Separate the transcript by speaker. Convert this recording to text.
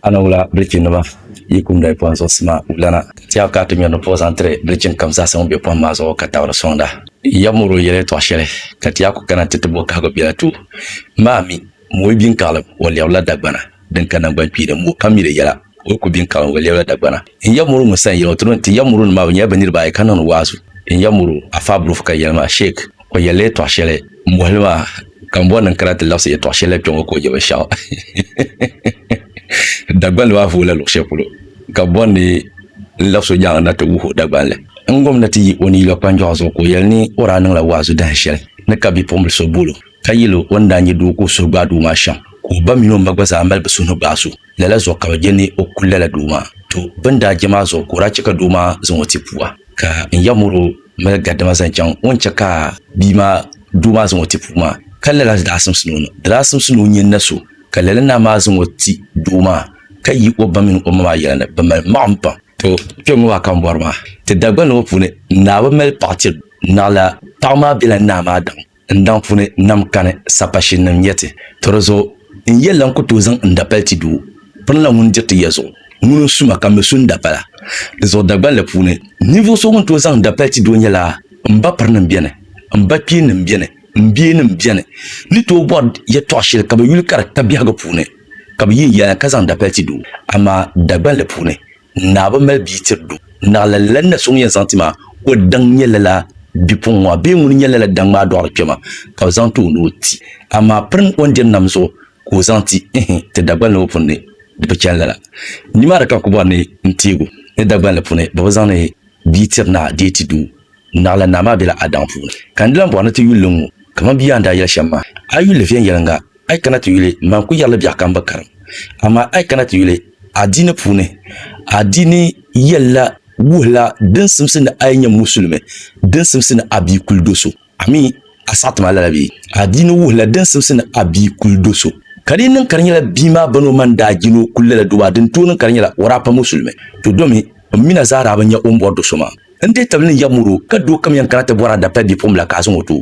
Speaker 1: A ni wula bilichinima yi kum dali pɔhim zuɣusi maa wulana, ka tɛha ka a ti ŋmɛri ni pɔh zaŋ tiri bilichin kam zaasa ŋun be pɔhim maa zuɣu ka tabiri sɔŋda. Yab mɔri o yɛla yɛtɔɣ shɛli, ka tɛha ku kana nti ti bo kahigu biɛla tuui. Maa mi, mɔyi biŋkaɣilim wa lɛbirila dagbana din ka naŋgbankpiilim, mɔ kam mi di yɛla, o yi ku biŋkaɣilim wa lɛbirila dagbana. N ya muru ŋun sani yɛlima tiri ti ya muru nim maa bi nyɛla bi niriba ayi ka niŋdi waazu N ya muru Afaa Bulofu ka yɛli maa Sheik o yɛli la yɛtɔɣ shɛli m bɔhili maa ka m bɔri ni n kana ti labisi yɛtɔɣ shɛli la kpɛ ŋɔ ka o yɛ binshɛɣu Dagbanli maa vooi la luɣ shɛli polo ka bɔri ni n labis o nyaaŋa na ti wuhi o Dagbanli n gom na ti yi o ni yila kpanjɔɣu zuɣu ka o yɛli ni o daa niŋla waazu dahin shɛli ni ka bipuɣimbili so bool o ka yɛl o o ni daa nyɛ doo ka o suhu gbaai doo maa shɛm ka o ba mini o ma gba zaa mali bi suhu ni gbaai so. Lala zuɣu ka bɛ je ni o kuli lala doo maa. Tɔ! Bɛ ni daa je maa zuɣu ka o daa chɛ ka doo maa zaŋ o ti pua, ka n ya mɔr o mali gadama zaŋ chaŋ o ni chɛ ka bia maa doo maa zaŋ o ti puu maa. Ka lala daa simsi ni o ni daa simsi ni o nya na so, ka lala naa maa zaŋ o ti doo maa, ka yi o ba mini o ma maa yɛla ni bɛ mali maɣim pam. Tɔ! Kpiɔŋ maa ka m bɔri maa. Ti Dagbani ŋɔ puuni, naa bi mali paɣ tiri naɣila. Paɣ maa bela naa maa daɣim. N daŋ puni nam kani sapashin nim yɛti, To di zuɣu, n yɛli la n ku tooi zaŋ n dapali ti doo, pini la ŋun diriti ya zuɣu, ŋuni n su ma ka mi su n dapala. Di zuɣu Dagbanli puuni, ninvuɣ so ŋun tooi zaŋ n dapali ti doo nyɛla, M ba pirinim beni, m ba kpeennim beni, m bienim beni ni tooi bɔri yɛtɔɣ shɛli ka bi yuli ka di ka biɛhigu puuni, ka bi yi n yɛlana ka zaŋ n dapali ti doo. Amaa Dagbanli puuni, Naa bi mali bia tiri du. Naɣila lan na so ŋun yɛn zaŋ ti maa, o daŋ nyɛ lala bipuɣin ŋɔ a bee ŋuni n-nyɛ lala daŋ maa dɔɣiri kpɛma, ka bi zaŋ ti o ni o ti. Amaa pirin o ni diri nam zuɣu ka o zaŋ ti, ihi, ti Dagbani la o pun ni di bi chani lala. Nimaani ka n ku bɔri ni n teeg o ni Dagbani la puuni bɛ bi zaŋ ni bia tiri naa dee ti doo. Naɣila naa maa bela a daŋ puuni. Ka n di lan bɔri ni ti yuli li ŋ-ŋɔ kaman bia a ni daa yɛli shɛm maa. A yuli li viɛnyɛliŋga. a yi kana ti yuli n ban ku yɛrila biɛɣu ka n bi karim, amaa a yi kana ti yuli adiini puuni, adiini yɛlila wuhila din simsi ni a yi nyɛ musulimi, din simsi ni a bi kuli do so. A mi a saɣiti ma lala bee? Adiini wuhila din simsi ni a bi kuli do so. Ka di yi niŋ ka di nyɛla bia maa bani o ma n-daa je ni o kuli lala do maa, din tooi niŋ ka di nyɛla o daa pa musulimi, to domi m mi na zaa daa bi nya o ni bɔri do so maa. N di tabili ni ya mɔro, ka doo kam yɛn kana ti bɔra dabita bipuɣimbila ka a zaŋ o ti o.